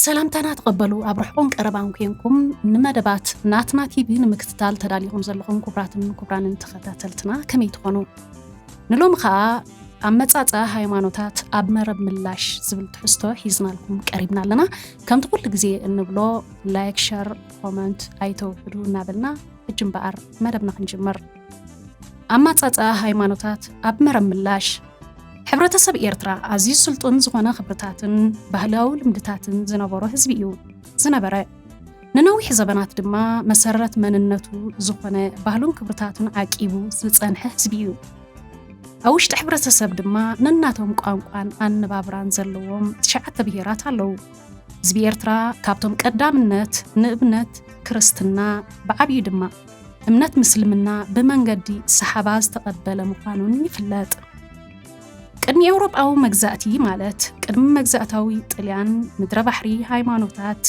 ሰላምታና ተቐበሉ ኣብ ርሕቁን ቀረባን ኮንኩም ንመደባት ናትና ቲቪ ንምክትታል ተዳሊኹም ዘለኹም ክቡራትን ክቡራንን ተኸታተልትና ከመይ ትኾኑ ንሎሚ ከዓ ኣብ መፃፀ ሃይማኖታት ኣብ መረብ ምላሽ ዝብል ትሕዝቶ ሒዝናልኩም ቀሪብና ኣለና ከምቲ ኩሉ ግዜ እንብሎ ላይክ ሸር ኮመንት ኣይተውሕዱ እናበልና ሕጂ እምበኣር መደብና ክንጅምር ኣማጻጽኣ ሃይማኖታት ኣብ መረብ ምላሽ ሕብረተሰብ ኤርትራ ኣዝዩ ስልጡን ዝኾነ ክብርታትን ባህላዊ ልምድታትን ዝነበሮ ህዝቢ እዩ ዝነበረ። ንነዊሕ ዘበናት ድማ መሰረት መንነቱ ዝኾነ ባህሉን ክብርታቱን ዓቂቡ ዝጸንሐ ህዝቢ እዩ። ኣብ ውሽጢ ሕብረተሰብ ድማ ነናቶም ቋንቋን ኣነባብራን ዘለዎም ትሽዓተ ብሄራት ኣለዉ። ህዝቢ ኤርትራ ካብቶም ቀዳምነት ንእምነት ክርስትና ብዓብዩ ድማ እምነት ምስልምና ብመንገዲ ሰሓባ ዝተቐበለ ምዃኑን ይፍለጥ። ቅድሚ ኤውሮጳዊ መግዛእቲ ማለት ቅድሚ መግዛእታዊ ጥልያን ምድረ ባሕሪ ሃይማኖታት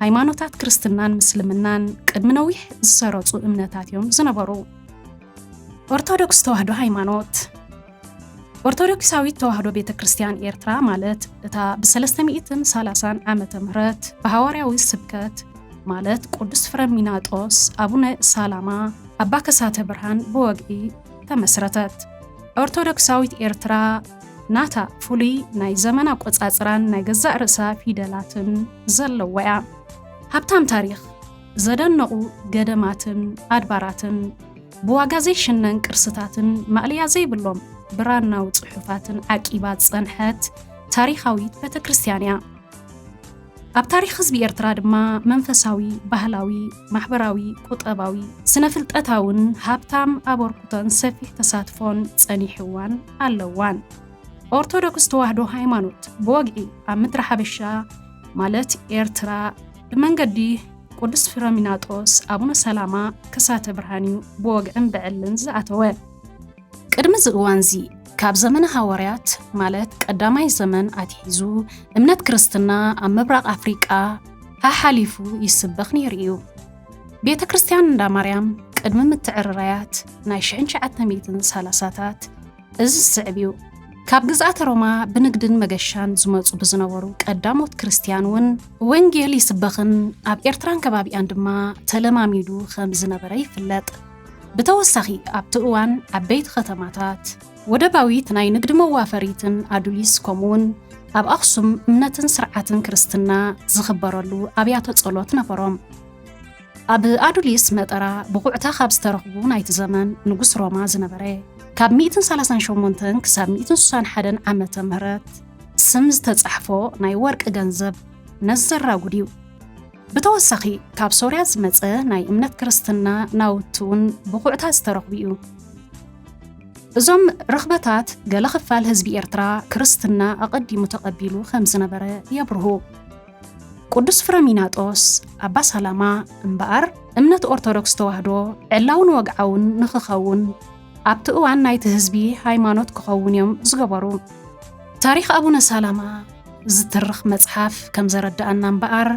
ሃይማኖታት ክርስትናን ምስልምናን ቅድሚ ነዊሕ ዝሰረጹ እምነታት እዮም ዝነበሩ። ኦርቶዶክስ ተዋህዶ ሃይማኖት ኦርቶዶክሳዊት ተዋህዶ ቤተ ክርስቲያን ኤርትራ ማለት እታ ብሰለስተ ሚእትን ሰላሳን ዓመተ ምህረት ብሃዋርያዊ ስብከት ማለት ቅዱስ ፍረሚናጦስ፣ ኣቡነ ሳላማ፣ ኣባ ከሳተ ብርሃን ብወግዒ ተመስረተት። ኦርቶዶክሳዊት ኤርትራ ናታ ፍሉይ ናይ ዘመን ኣቆጻጽራን ናይ ገዛእ ርእሳ ፊደላትን ዘለዋ'ያ። ሃብታም ታሪኽ ዘደንቑ ገደማትን ኣድባራትን፣ ብዋጋ ዘይሽነን ቅርስታትን ማእለያ ዘይብሎም ብራናዊ ጽሑፋትን ዓቂባ ዝጸንሐት ታሪኻዊት ቤተ ክርስቲያን እያ። ኣብ ታሪኽ ህዝቢ ኤርትራ ድማ መንፈሳዊ፣ ባህላዊ፣ ማሕበራዊ፣ ቁጠባዊ፣ ስነ ፍልጠታውን ሃብታም ኣበርኩቶን ሰፊሕ ተሳትፎን ጸኒሕዋን ኣለዋን። ኦርቶዶክስ ተዋህዶ ሃይማኖት ብወግዒ ኣብ ምድረ ሓበሻ ማለት ኤርትራ፣ ብመንገዲ ቅዱስ ፊሮሚናጦስ ኣቡነ ሰላማ ከሳተ ብርሃን እዩ ብወግዕን ብዕልን ዝኣተወ። ቅድሚ እዚ እዋንዚ ካብ ዘመነ ሃወርያት ማለት ቀዳማይ ዘመን ኣትሒዙ እምነት ክርስትና ኣብ ምብራቕ ኣፍሪቃ ሓሓሊፉ ይስበኽ ነይሩ እዩ። ቤተ ክርስቲያን እንዳ ማርያም ቅድሚ ምትዕርራያት ናይ ሽሕን ትሽዓተ ሚእትን ሳላሳታት እዚ ዝስዕብ እዩ፣ ካብ ግዝኣተ ሮማ ብንግድን መገሻን ዝመጹ ብዝነበሩ ቀዳሞት ክርስትያን እውን ወንጌል ይስበኽን ኣብ ኤርትራን ከባቢኣን ድማ ተለማሚዱ ከም ዝነበረ ይፍለጥ። ብተወሳኺ ኣብቲ እዋን ዓበይቲ ከተማታት፣ ወደባዊት ናይ ንግዲ መዋፈሪትን ኣዱሊስ ከምኡውን ኣብ ኣኽሱም እምነትን ስርዓትን ክርስትና ዝኽበረሉ ኣብያተ ጸሎት ነበሮም። ኣብ ኣዱሊስ መጠራ ብቑዕታ ካብ ዝተረኽቡ ናይቲ ዘመን ንጉስ ሮማ ዝነበረ ካብ ሚእትን ሰላሳን ሸሞንተን ክሳብ ሚእትን ስሳን ሓደን ዓመተ ምህረት ስም ዝተጻሕፎ ናይ ወርቂ ገንዘብ ነዚ ዘራጉድ እዩ። ብተወሳኺ ካብ ሶርያ ዝመጸ ናይ እምነት ክርስትና ናውቲ እውን ብቑዕታ ዝተረኽቡ እዩ። እዞም ርኽበታት ገለ ክፋል ህዝቢ ኤርትራ ክርስትና ኣቐዲሙ ተቐቢሉ ከም ዝነበረ የብርሁ። ቅዱስ ፍረሚናጦስ ኣባ ሳላማ እምበኣር እምነት ኦርቶዶክስ ተዋህዶ ዕላውን ወግዓውን ንኽኸውን ኣብቲ እዋን ናይቲ ህዝቢ ሃይማኖት ክኸውን እዮም ዝገበሩ። ታሪኽ ኣቡነ ሳላማ ዝትርኽ መጽሓፍ ከም ዘረድኣና እምበኣር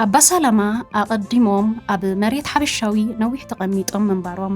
ኣባ ሳላማ ኣቐዲሞም ኣብ መሬት ሓበሻዊ ነዊሕ ተቐሚጦም ምንባሮም፣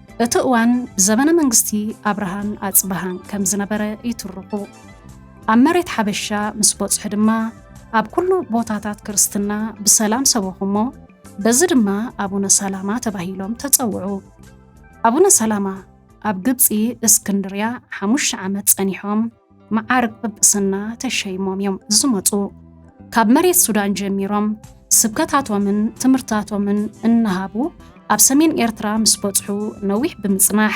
እቲ እዋን ዘበነ መንግስቲ ኣብርሃን ኣፅብሃን ከም ዝነበረ ይትርኹ። ኣብ መሬት ሓበሻ ምስ በፅሑ ድማ ኣብ ኩሉ ቦታታት ክርስትና ብሰላም ሰበኹ እሞ በዚ ድማ ኣቡነ ሰላማ ተባሂሎም ተፀውዑ። ኣቡነ ሰላማ ኣብ ግብፂ እስክንድርያ ሓሙሽተ ዓመት ፀኒሖም። መዓርግ ጵጵስና ተሸይሞም እዮም ዝመፁ። ካብ መሬት ሱዳን ጀሚሮም ስብከታቶምን ትምህርታቶምን እናሃቡ ኣብ ሰሜን ኤርትራ ምስ በጽሑ ነዊሕ ብምጽናሕ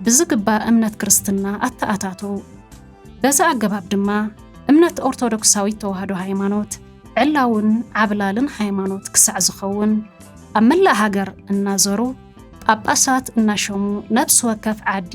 ብዝግባእ እምነት ክርስትና ኣተኣታተው። በዚ ኣገባብ ድማ እምነት ኦርቶዶክሳዊት ተዋህዶ ሃይማኖት ዕላውን ዓብላልን ሃይማኖት ክሳዕ ዝኸውን ኣብ መላእ ሃገር እናዘሩ ጳጳሳት እናሸሙ ነፍሲ ወከፍ ዓዲ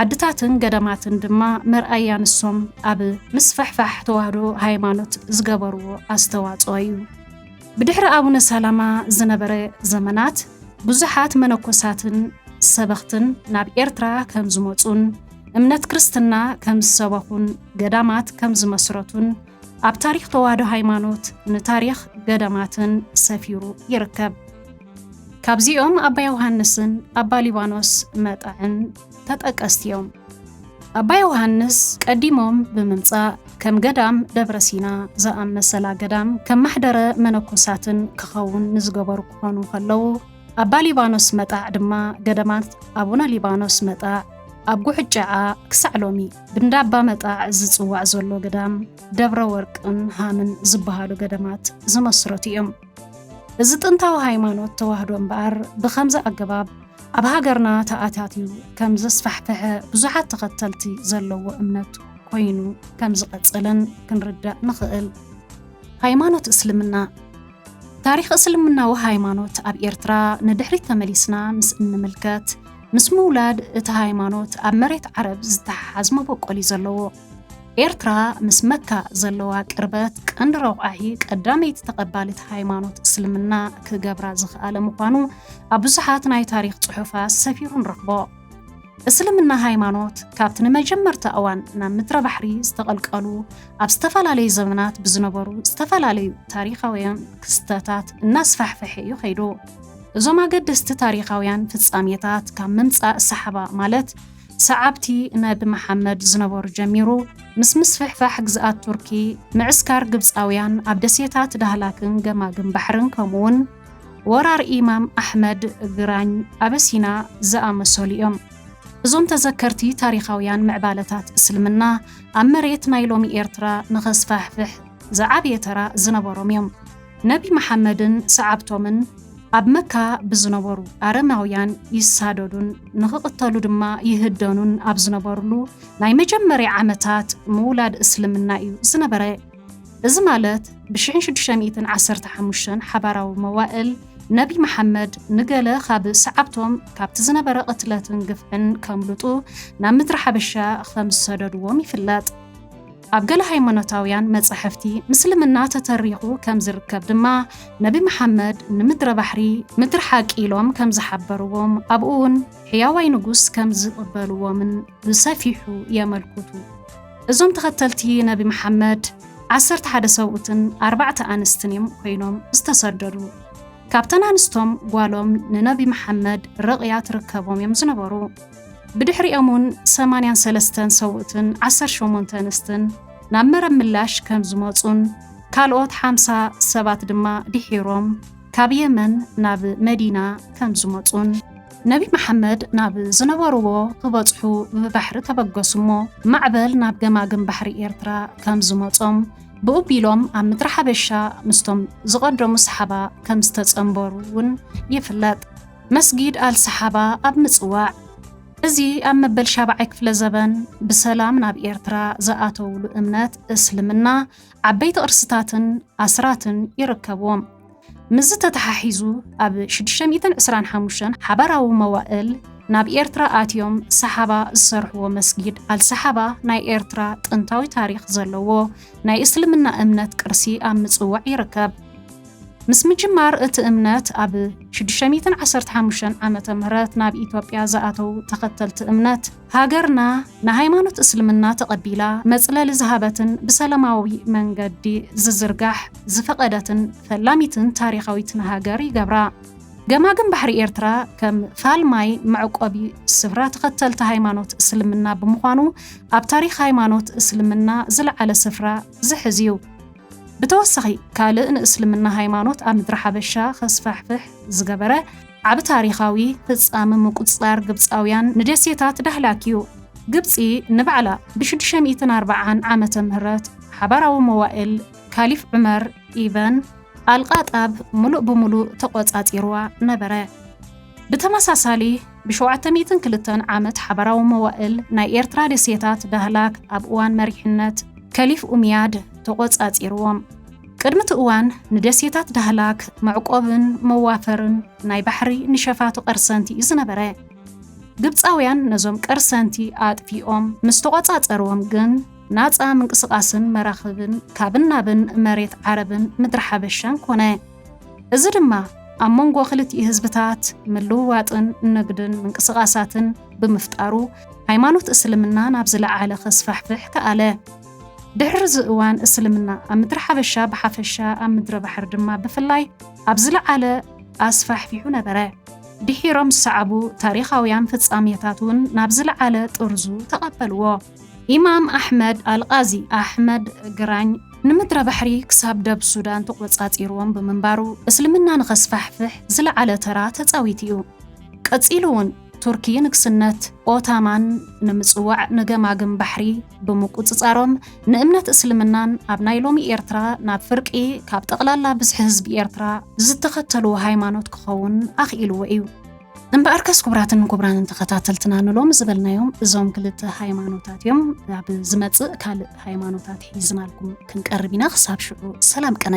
ዓድታትን ገዳማትን ድማ መርኣያ ንሶም ኣብ ምስፍሕፋሕ ተዋህዶ ሃይማኖት ዝገበርዎ ኣስተዋፅኦ እዩ። ብድሕሪ ኣቡነ ሰላማ ዝነበረ ዘመናት ብዙሓት መነኮሳትን ሰበኽትን ናብ ኤርትራ ከምዝመፁን እምነት ክርስትና ከምዝሰበኹን ገዳማት ከምዝመስረቱን ኣብ ታሪኽ ተዋህዶ ሃይማኖት ንታሪኽ ገዳማትን ሰፊሩ ይርከብ። ካብዚኦም ኣባ ዮሃንስን ኣባ ሊባኖስ መጣዕን ተጠቀስቲ እዮም። ኣባ ዮሃንስ ቀዲሞም ብምምጻእ ከም ገዳም ደብረ ሲና ዝኣመሰላ ገዳም ከም ማሕደረ መነኮሳትን ክኸውን ንዝገበሩ ክኾኑ ከለዉ፣ ኣባ ሊባኖስ መጣዕ ድማ ገዳማት ኣቡነ ሊባኖስ መጣዕ ኣብ ጉሕጨዓ ክሳዕ ሎሚ ብንዳ ኣባ መጣዕ ዝጽዋዕ ዘሎ ገዳም ደብረ ወርቅን ሃምን ዝበሃሉ ገዳማት ዝመስረቱ እዮም። እዚ ጥንታዊ ሃይማኖት ተዋህዶ እምበኣር ብከምዚ ኣገባብ ኣብ ሃገርና ተኣታትዩ ከም ዘስፋሕፈሐ ብዙሓት ተኸተልቲ ዘለዎ እምነት ኮይኑ ከም ዝቐጸለን ክንርዳእ ንኽእል። ሃይማኖት እስልምና ታሪኽ እስልምናዊ ሃይማኖት ኣብ ኤርትራ ንድሕሪት ተመሊስና ምስ እንምልከት፣ ምስ ምውላድ እቲ ሃይማኖት ኣብ መሬት ዓረብ ዝተሓሓዝ መበቆል እዩ ዘለዎ። ኤርትራ ምስ መካ ዘለዋ ቅርበት ቀንዲ ረቋሒ ቀዳመይቲ ተቐባሊት ሃይማኖት እስልምና ክገብራ ዝኸኣለ ምዃኑ ኣብ ብዙሓት ናይ ታሪኽ ጽሑፋት ሰፊሩ ንረኽቦ። እስልምና ሃይማኖት ካብቲ ንመጀመርታ እዋን ናብ ምድረ ባሕሪ ዝተቐልቀሉ ኣብ ዝተፈላለዩ ዘመናት ብዝነበሩ ዝተፈላለዩ ታሪኻውያን ክስተታት እናስፋሕፈሐ እዩ ከይዱ። እዞም ኣገደስቲ ታሪኻውያን ፍጻሜታት ካብ ምምጻእ ሰሓባ ማለት ሰዓብቲ ነቢ መሓመድ ዝነበሩ ጀሚሩ ምስ ምስፍሕፋሕ ግዝኣት ቱርኪ፣ ምዕስካር ግብጻውያን ኣብ ደሴታት ዳህላክን ገማግም ባሕርን ከምኡ'ውን ወራር ኢማም ኣሕመድ፣ ግራኝ፣ ኣበሲና ዝኣመሰሉ እዮም። እዞም ተዘከርቲ ታሪኻውያን ምዕባለታት እስልምና ኣብ መሬት ናይ ሎሚ ኤርትራ ንኸስፋሕፍሕ ዝዓበየ ተራ ዝነበሮም እዮም። ነቢ መሓመድን ሰዓብቶምን ኣብ መካ ብዝነበሩ ኣረማውያን ይሳደዱን ንኽቕተሉ ድማ ይህደኑን ኣብ ዝነበርሉ ናይ መጀመርያ ዓመታት ምውላድ እስልምና እዩ ዝነበረ። እዚ ማለት ብሽሕን ሽዱሽተ ሚእትን ዓሰርተ ሓሙሽተን ሓባራዊ መዋእል ነቢ መሓመድ ንገለ ካብ ሰዓብቶም ካብቲ ዝነበረ ቅትለትን ግፍዕን ከምልጡ ናብ ምድሪ ሓበሻ ከም ዝሰደድዎም ይፍለጥ። ኣብ ገለ ሃይማኖታውያን መጻሕፍቲ ምስልምና ተተሪኹ ከም ዝርከብ ድማ ነቢ መሓመድ ንምድረ ባሕሪ ምድሪ ሓቂ ኢሎም ከም ዝሓበርዎም ኣብኡውን ሕያዋይ ንጉስ ከም ዝቕበልዎምን ብሰፊሑ የመልኩቱ። እዞም ተኸተልቲ ነቢ መሓመድ ዓሰርተ ሓደ ሰብኡትን ኣርባዕተ ኣንስትን እዮም ኮይኖም ዝተሰደዱ። ካብተን ኣንስቶም ጓሎም ንነቢ መሓመድ ርቕያ ትርከቦም እዮም ዝነበሩ። ብድሕሪኦም እውን ሰማንያን ሰለስተን ሰብኡትን ዓሰርተ ሸሞንተ ኣንስትን ናብ መረብ ምላሽ ከም ዝመጹን ካልኦት ሓምሳ ሰባት ድማ ድሒሮም ካብ የመን ናብ መዲና ከም ዝመጹን ነቢ መሓመድ ናብ ዝነበርዎ ክበጽሑ ብባሕሪ ተበገሱ እሞ ማዕበል ናብ ገማግም ባሕሪ ኤርትራ ከም ዝመጾም ብኡ ቢሎም ኣብ ምድሪ ሓበሻ ምስቶም ዝቐደሙ ሰሓባ ከም ዝተጸንበሩ እውን ይፍለጥ። መስጊድ ኣል ሰሓባ ኣብ ምጽዋዕ እዚ ኣብ መበል ሻብዓይ ክፍለ ዘበን ብሰላም ናብ ኤርትራ ዝኣተውሉ እምነት እስልምና ዓበይቲ ቅርስታትን ኣስራትን ይርከብዎም። ምስዚ ተተሓሒዙ ኣብ ሽዱሽተ ሚእትን ዕስራን ሓሙሽተን ሓባራዊ መዋእል ናብ ኤርትራ ኣትዮም ሰሓባ ዝሰርሕዎ መስጊድ ኣልሰሓባ ናይ ኤርትራ ጥንታዊ ታሪኽ ዘለዎ ናይ እስልምና እምነት ቅርሲ ኣብ ምጽዋዕ ይርከብ። ምስ ምጅማር እቲ እምነት ኣብ ሽዱሽተ ሚእትን ዓሰርተ ሓሙሽተን ዓመተ ምህረት ናብ ኢትዮጵያ ዝኣተዉ ተኸተልቲ እምነት ሃገርና ንሃይማኖት እስልምና ተቐቢላ መፅለሊ ዝሃበትን ብሰለማዊ መንገዲ ዝዝርጋሕ ዝፈቐደትን ፈላሚትን ታሪኻዊትን ሃገር ይገብራ። ገማግም ባሕሪ ኤርትራ ከም ፋል ማይ መዕቆቢ ስፍራ ተኸተልቲ ሃይማኖት እስልምና ብምዃኑ ኣብ ታሪኽ ሃይማኖት እስልምና ዝለዓለ ስፍራ ዝሕዝ እዩ። ብተወሳኺ ካልእ ንእስልምና ሃይማኖት ኣብ ምድረ ሓበሻ ከስፋሕፍሕ ዝገበረ፣ ዓቢ ታሪኻዊ ፍጻመ ምቁጽጻር ግብጻውያን ንደሴታት ዳህላክ እዩ። ግብጺ ንባዕላ ብሽዱሽተ ሚእትን ኣርብዓን ዓመተ ምህረት ሓባራዊ መዋእል ካሊፍ ዑመር ኢበን ኣልቃጣብ ምሉእ ብምሉእ ተቖጻጺሩዋ ነበረ። ብተመሳሳሊ ብሸውዓተ ሚእትን ክልተን ዓመት ሓባራዊ መዋእል ናይ ኤርትራ ደሴታት ዳህላክ ኣብ እዋን መሪሕነት ከሊፍ ኡምያድ ተቖጻጺሩዎም። ቅድሚ እቲ እዋን ንደሴታት ዳህላክ መዕቆብን መዋፈርን ናይ ባሕሪ ንሸፋቱ ቀርሰንቲ እዩ ዝነበረ። ግብጻውያን ነዞም ቀርሰንቲ ኣጥፊኦም ምስ ተቖጻጸርዎም ግን ናጻ ምንቅስቓስን መራኽብን ካብን ናብን መሬት ዓረብን ምድሪ ሓበሻን ኮነ። እዚ ድማ ኣብ መንጎ ክልቲኡ ህዝብታት ምልውዋጥን ንግድን ምንቅስቓሳትን ብምፍጣሩ ሃይማኖት እስልምና ናብ ዝለዓለ ከስፋሕፍሕ ከኣለ። ድሕርዚ እዋን እስልምና ኣብ ምድሪ ሓበሻ ብሓፈሻ ኣብ ምድረ ባሕሪ ድማ ብፍላይ ኣብ ዝለዓለ ኣስፋሕፊሑ ነበረ። ድሒሮም ዝሰዓቡ ታሪኻውያን ፍጻሜታት እውን ናብ ዝለዓለ ጥርዙ ተቐበልዎ። ኢማም ኣሕመድ ኣልቓዚ፣ ኣሕመድ ግራኝ፣ ንምድረ ባሕሪ ክሳብ ደብ ሱዳን ተቖጻጺርዎም ብምንባሩ እስልምና ንኸስፋሕፍሕ ዝለዓለ ተራ ተጻዊቱ እዩ። ቀጺሉ እውን ቱርኪ ንግስነት ኦታማን ንምጽዋዕ ንገማግም ባሕሪ፣ ብምቁጽጻሮም ንእምነት እስልምናን ኣብ ናይ ሎሚ ኤርትራ ናብ ፍርቂ ካብ ጠቕላላ ብዝሒ ህዝቢ ኤርትራ ዝተኸተልዎ ሃይማኖት ክኸውን ኣኽኢልዎ እዩ። እምበኣርከስ ክቡራትን ክቡራንን ተኸታተልትና ንሎሚ ዝበልናዮም እዞም ክልተ ሃይማኖታት እዮም። ኣብ ዝመጽእ ካልእ ሃይማኖታት ሒዝናልኩም ክንቀርብ ኢና። ክሳብ ሽዑ ሰላም ቅነ።